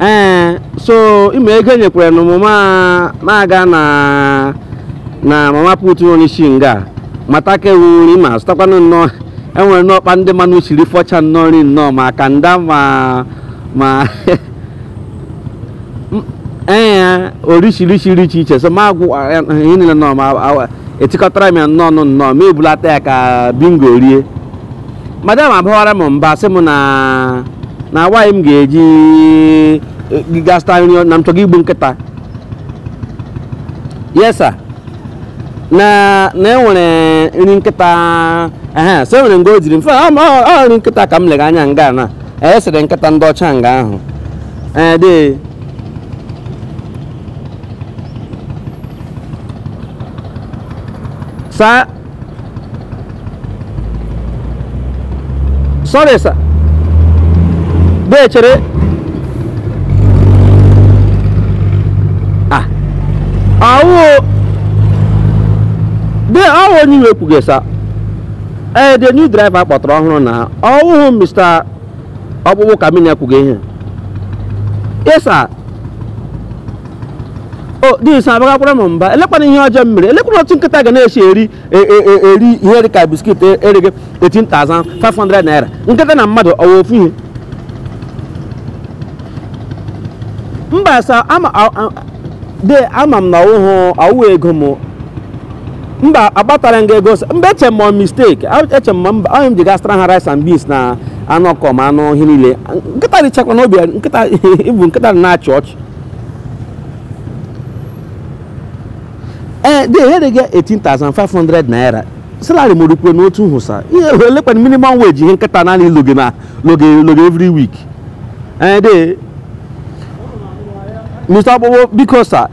ee so ime ego enyekwaranụ m m aga na mama put nọ n'isi nga mata ka ewu nri ma zụtakwanụ nnọọ enwere anụ ọkpa ndị mmanụ siri fọcha nnọọ nri nnọọ ma kanda ma ma ee orishirishi dị iche iche so ma agwụ ihe niile nnọọ ma etikọtara m ya nnọọ nnọọ m ebulata ya ka bingo rie madam abawara m mba sị m na why m ga-eji e, gaa zụta nri na m chọga igbu nkịta yes sir na na enwere nri nkịta ehe so enwere nga o jiri mfe ọ ma- ọ- ọ nri nkịta ka m lega anya nga na-esiri nkịta ndị ọcha nga ahụ ee dee saa sorry sir dee chere ah awụ dee awụ onye iwe kwughị sa ee the new driver kpọtara ọhụrụ na ọwụhụ mr ọkpụkpụ kamini akwughị ihe sa o dee i so abagakwara m mba elekwanụ ihe ọjọọ m mere elekwanụ otu nkịta ga na-esi eri e, e, e, eri ihe dị ka biskit ere gị 18,500 naira nkịta na mmadụ ọ wụ ofu ihe mba sa ama a- a- de ama m na ọwụhụ ọwụ ego m mba akpatara m gị ego sa- mba eche m ọ mistake A- eche m ma mba onye m ji gaa zụtara ha rice and beans na anụ ọkụkọ ma anụ ihe niile nkịta richakwa n'obi ya, nkịta ịbụ nkịta na-achị ọchị ee de ere gị 18,500 naira salary m ọ rukwanụ otu ahụ sa ihe elekwanụ minimum wage ihe nkịta naanị loge na loge loge every week ee de mr ọkpụkpụ biko sa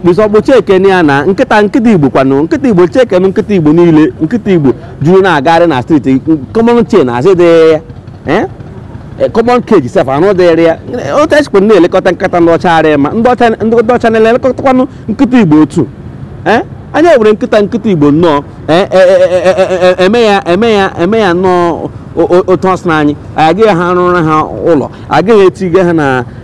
mr ọkpụ chekene ya na nkịta nkịta igbo kwanụ nkịta igbo chekene nkịta igbo niile nkịta igbo juru na-agagharị na street common chain asị dị ya eh? Eh, common cage sef anụ dịrị ya otu echekwa na-elekọta nkịta ndị ọcha arịa ma ndị ọcha na-elekọtakwanụ nkịta igbo otu eh? anyị ewere nkịta nkịta igbo nnọọ eme ya eme ya eme ya nnọọ otu ọsị na anyị agaghị arụrụ ha ụlọ agaghị etige ha na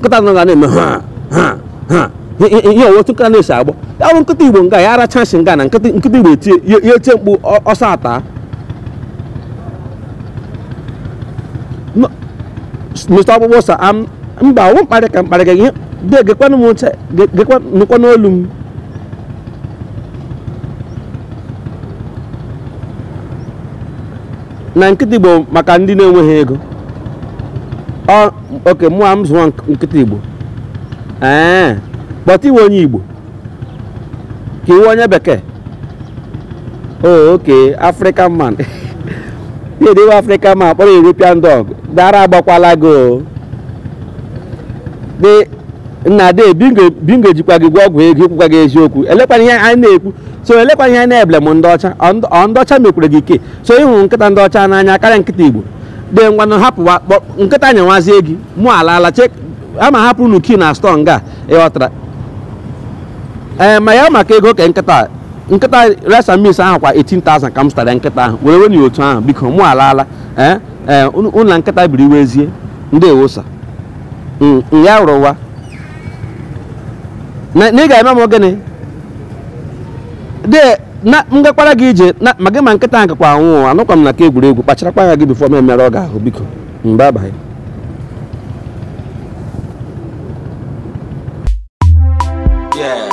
nkịta nọ ga na-eme ha ha ha ihe ọ wụ otu nkịta na-esi agbọ ya bụ nkịta igbo nga ya aracha nsị nga na nkịta nkịta igbo etie ya ya etie mkpu ọ- ọsọ ata No, Mr. ọkpụkpụ sa am mba ọ wụ mkparị ka mkparị ka ihe de gekwanụ m ntị ge- gekwa nụkwanụ olu m na nkịta igbo maka ndị na-enweghị ego ọ oke mụwa m zụọ nk- nkịta igbo ee but ị wụ onye igbo ka ị wụ onye bekee o okay african man ya dịwe african man kpọrọ european dog de ara agbakwala gị o dị nna de bingo bingo jikwa gị gwọọ ọgwụ ego i kwukwaghị eziokwu elekwana ihe anyị na-ekwu so elekwana ihe anyị na-eblame ndị ọcha ọ ndị- ọ ndị ọcha mekwara gị ike so ị hụrụ nkịta ndị ọcha n'anya karịa nkịta igbo de ngwanụ hapụwa kpọ- nkịta nyewazie gị mụ alaala chek ama hapụ unu key na store nga ị ghọtara ee ma ya maka ego ka nkịta a- nkịta resa mis ahụ kwa 18,000 ka m zụtara nkịta ahụ were wenye otu ahụ biko mụ alaala ee ee unu unu na nkịta biriwezie ndị ewosa ya rụwa na na ị ga-eme m gịnị de na m gakwara gị ije na ma gị ma nkịta ahụ gakwa anwụ anụkwa m na nke egwuregwu kpacharakwa anya gị before m emerụọ gị ahụ biko mba abaghị Yeah.